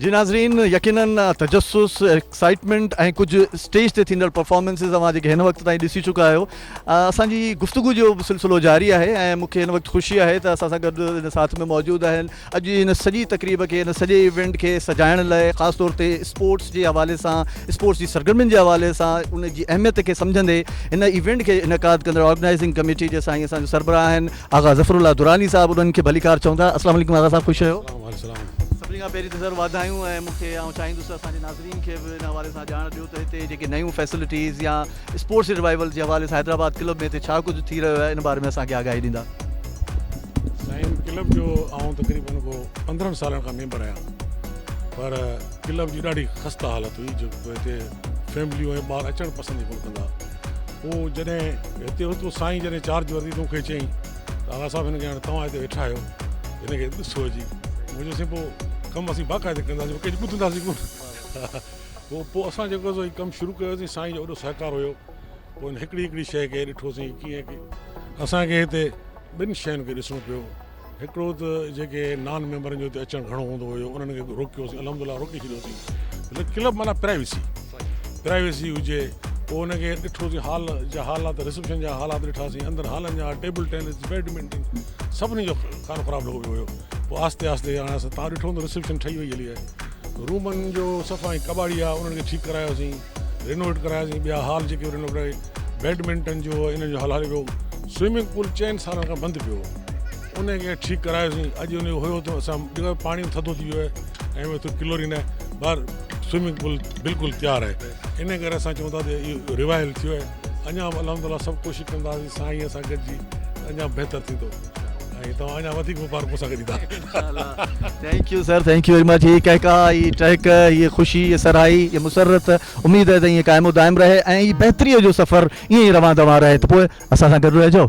جي ناظرين يقينن تجسس ايڪسائيٽمينٽ ۽ ڪجهه اسٽيج تي ٿيندڙ پرفارمنسز اوهان جيڪي هن وقت تائين ڏسي چڪا آهيو اسان جي گفتگو جو سلسلو جاري آهي ۽ مونکي هن وقت خوشي آهي ته اسان سان گڏ هن ساٿ ۾ موجود آهن اڄ جي هن سڄي تقريب کي هن سڄي ايونٽ کي سجائڻ لاء خاص طور تي اسپورٽس جي حوالي سان اسپورٽس جي سرگرمين جي حوالي سان ان جي اهميت کي سمجهندي هن ايونٽ کي انعقاد ڪندڙ آرگنائيزنگ ڪميٽي جي سائين اسان جي سربراهه آهن آغا ظفر الله دراني صاحب انهن کي ڀليڪار چوندا. السلام عليڪم آغا صاحب خوش رهيو. سڀني کان پهرين ته سر واڌايون ۽ مون کي آئون چاهيندس ته اسان جي ناظرين کي به ان حوالي سان ڄاڻ ڏيو ته هتي جيڪي نيون فيسلٽيز يا اسپورٽس ريوائيول جي حوالي سان حيدرآباد ڪلب ۾ هتي ڇا ڪجهه ٿي رهيو آهي ان باري ۾ اسان کي آگاهي ڏيندا. سائين ڪلب جو آئون تقريبن ڪو پندرهن سالن کان ميمبر آهيان پر ڪلب جي ڏاڍي خسته حالت هئي جو هتي فيمليون ۽ ٻار اچڻ پسند ئي ڪونه ڪندا مون جڏهن هتي هوس تو سائين جڏهن چارج ورتي تو مون کي چيائين ته آغا صاحب هن کي هاڻي توهان هتي ويٺا آهيو هن کي ڏسو اچي مون چيو سائين پوء ڪم اسين باقاعده ڪنداسين ڪنهن جي ٻڌنداسين ڪونه پوء اسان جيڪو سو هي ڪم شروع ڪيوسين سائين جو وڏو سهڪار هيو پوء هن هڪڙي هڪڙي شيء کي ڏٺوسين ڪيئن اسان کي هتي ٻن شين کي ڏسڻو پيو هڪڙو ته جيڪي نان ميمبرن جو هتي اچڻ گهڻو هوندو هيو انهن کي روڪيوسين الحمد لله روڪي ڇڏيوسين مطلب ڪلب معنيٰ پرائيوسي پرائيوسي هجي پوء ان کي ڏٺوسين هال جا حالات رسيپشن جا حالات ڏٺاسين اندر هالن جا ٽيبل ٽينس بيڊمنٽن سڀني جو کانو خراب لڳو پيو هيو پوء آهستي آهستي هاڻي اسان تان ڏٺو هوندو رسيپشن ٺهي وئي هلي آهي رومن جو صفائي ڪٻاڙي آهي انهن کي ٺيڪ ڪرايوسين رينوويٽ ڪراياسين ٻيا هال جيڪي رينوويٽ ڪراياسين بيڊمنٽن جو انهن جو هال هلي پيو سوئمنگ پول چئن سالن کان بند پيو هو ان کي ٺيڪ ڪرايوسين اڄ ان جو هيو ته اسان جيڪو پاڻي ٿڌو ٿي ويو آهي ۽ اتي ڪلورين آهي ٻاهر سوئمنگ پول بلڪل تيار آهي ان ڪري اسان چون ٿا ته اهو ريوائل ٿيو آهي اڃا به الحمد لله سڀ ڪوشش ڪنداسين سائين اسان گڏجي اڃا بهتر ٿيندو ۽ توهان اڃا وڌيڪ مبارڪ مون سان گڏ ايندا. انشاءالله thank you sir thank you very much هي ڪهڪاء هي ٽهڪ هي خوشي هي سرهائي هي مسرت اميد آهي ته ائين قائم و دائم رهي ۽ هي بهتري جو سفر ائين ئي روان دوان رهي ته پوء اسان سان گڏ رهجو.